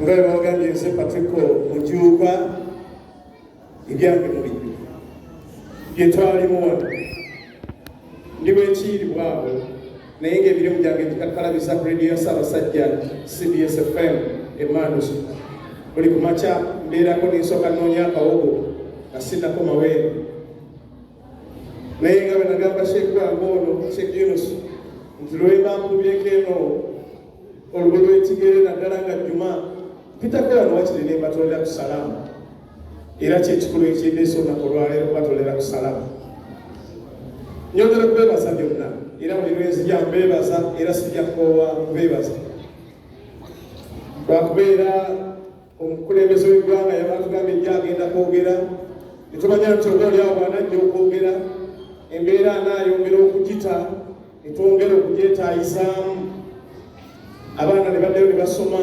nga webagambye nze patriko mujuuka ebyange mubinyu byetwalimu wano ndi bwekiiribwa awo naye ngaebirimu gyange gikakkalabiza ku rediyo ya ssaabasajja cbs fm emanus buli kumakya mbeerako nensooka noonya akawogo nga sinakomaweero naye nga bwenagamba sheikh wange ono sheikh yunus nti lwebamubyeko eno olubu lwekigere naddala nga juma pitakola nowakiri nembatolera ku salaamu era kyekikulu ekindeesa olunaku olwaleero kubatolera ku salaamu nyongera kubebaza byonna era buli lwenzija mbebaza era sijja kukoowa kubebaza lwakubeera omukulembeze w'eggwanga yabatugambye nja agenda kwogera netumanya nti oba olyawo bwanajja okwogera embeera anaayongera okugita netwongera okugyetaayisaamu abaana ne baddayo ne basoma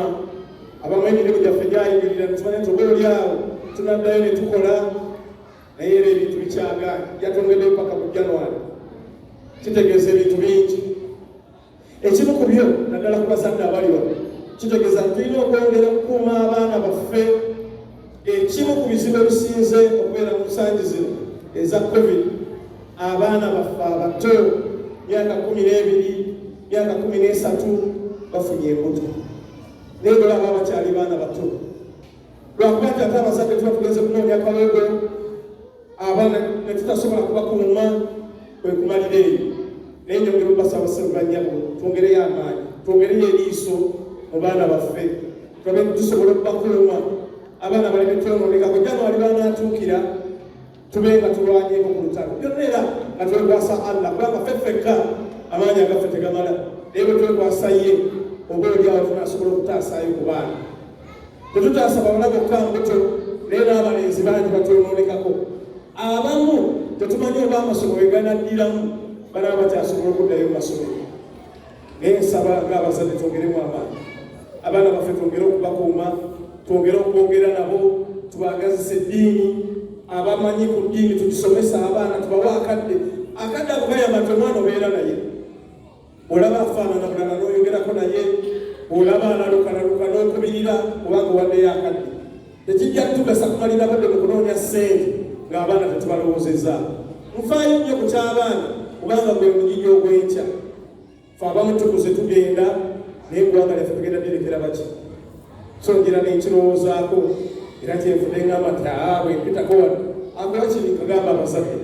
abamu emirimu gyaffe gyayimirira netumanya nti oba olyawo tunaddayo ne tukola naye era ebintu bikyagaana yatwongeddeyo paka mu january kitegeeza ebintu bingi Ekimu ku byo naddala ku bazadde abali wano kitegeeza nti tulina okwongera okukuuma abaana baffe. Ekimu ku bizibu ebisinze okubeera mu nsangi zino eza covid abaana baffe abato myaka kumi n'ebiri myaka kumi n'esatu bafunye embuto naye bwebaba bakyali baana bato lwakuba nti ate abazadde tuba tugenze kunoonyakawego abaana ne tutasobola kubakuuma kwe kumalira eyo naye njogera obasaba sebanyabo twongereyo amaanyi twongereyo eriiso mu baana baffe tulabe tusobola okubakuuma abaana baleme twononekako januari banatuukira tube nga tulwanyeko ku lutalo byonna era nga twekwasa allah kubanga ffe ffekka amaanyi agaffe tegamala naye bwe twekwasa ye oba olyawo tunasobola okutaasaayo ku baana tetukyasaba bana bokka mbuto naye n'abalenzi bangi batwonoonekako abamu tetumanyi oba amasomo weganaddiramu bana bakyasobola okuddayo mu masomero naye nsaba ng'abazadde twongeremu amaanyi abaana baffe twongere okubakuuma twongere okwogera nabo tubagazisa eddiini abamanyi ku ddiini tugisomesa abaana tubawa akadde akadde akukayamba nti omwana obeera naye olaba afaanana bulala n'oyogerako naye olaba alalukalaluka n'okubirira kubanga owaddeyo akadde tekijja kutugasa kumalira badde mu kunoonya ssente ng'abaana tetubalowoozezza nfaayo nnyo ku ky'abaana kubanga gwe munyinyi ogw'enkya fe abamu tukuze tugenda naye eggwanga lyaffe tugenda direkera baki so ngira nenkirowoozaako era kyenfude ngamba ti aa bwempitako wano akola kiri kagamba abasabye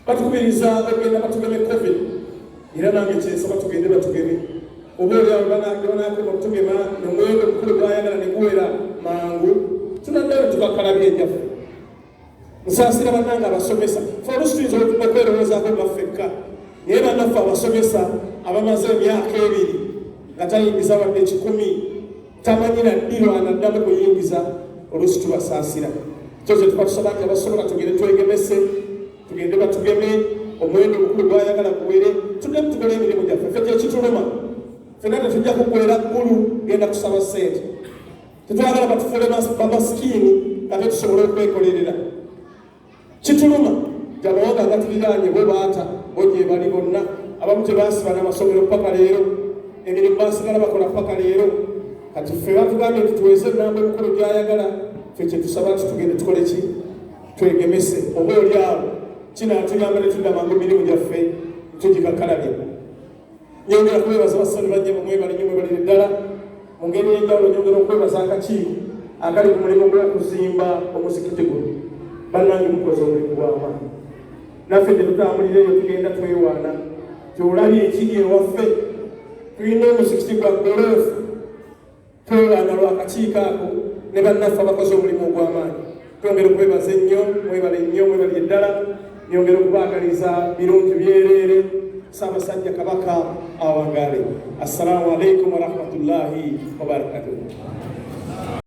batukubiriza bagenda batugeme covid era nange kyensaba tugende batugeme oba olyabanakema okutugema nomwendo omukulu gwayagala neguwera mangu tunaddayo tubakalabya ebyaffe musaasira banange abasomesa fe olusituyinza okwerowoozaako baffekka naye banaffe abasomesa abamaze emyaka ebiri nga tayingiza wadde kikumi tamanyi na ddirwana ddamu kuyingiza oluusi tubasaasira kyo kye tuba tusaba nti abasobola tugende twegemese tugende batugeme omwendo omukulu gwayagala guwere tudemu tugole emirimu gyaffe fe kyekituluma fena tetujja kugwera ggulu genda kusaba sente tetwagala batufule bamasikiini kate tusobole okwekolerera kituluma amawanga agatuliraanye bwe baata bo gyebali bonna abamu tebaasiba n'amasomero paka leero emirimu baasigala bakola paka leero kati ffe batugambye nti tuweze enamba emikolo gyayagala fe kyetusaba nti tugende tukole ki twegemese oba oli awo kinaatuyamba ne tudda mangu emirimu gyaffe tugikakalabye Nyongera kwebaza bassali bajja bamwebale nyo mwebalire ddala mu ngeri y'enjawulo nyongera okwebaza akakiiko akali ku mulimu gw'okuzimba omuzikiti guno bannange mukoze omulimu gw'amaanyi naffe gye tutambulira eyo tugenda twewaana gyolabye ekiri ewaffe tulina omuzikiti gwa goloofu Twewanga lwa kakiiko ako ne bannaffe abakoze omulimu ogw'amaanyi. Twongera okwebaza ennyo, mwebale nnyo, mwebalire ddala. Nyongera okubaagaliza birungi byereere. Ssaabasajja Kabaka awangaale. Assalamu alaikum warahmatullahi wabarakatuh.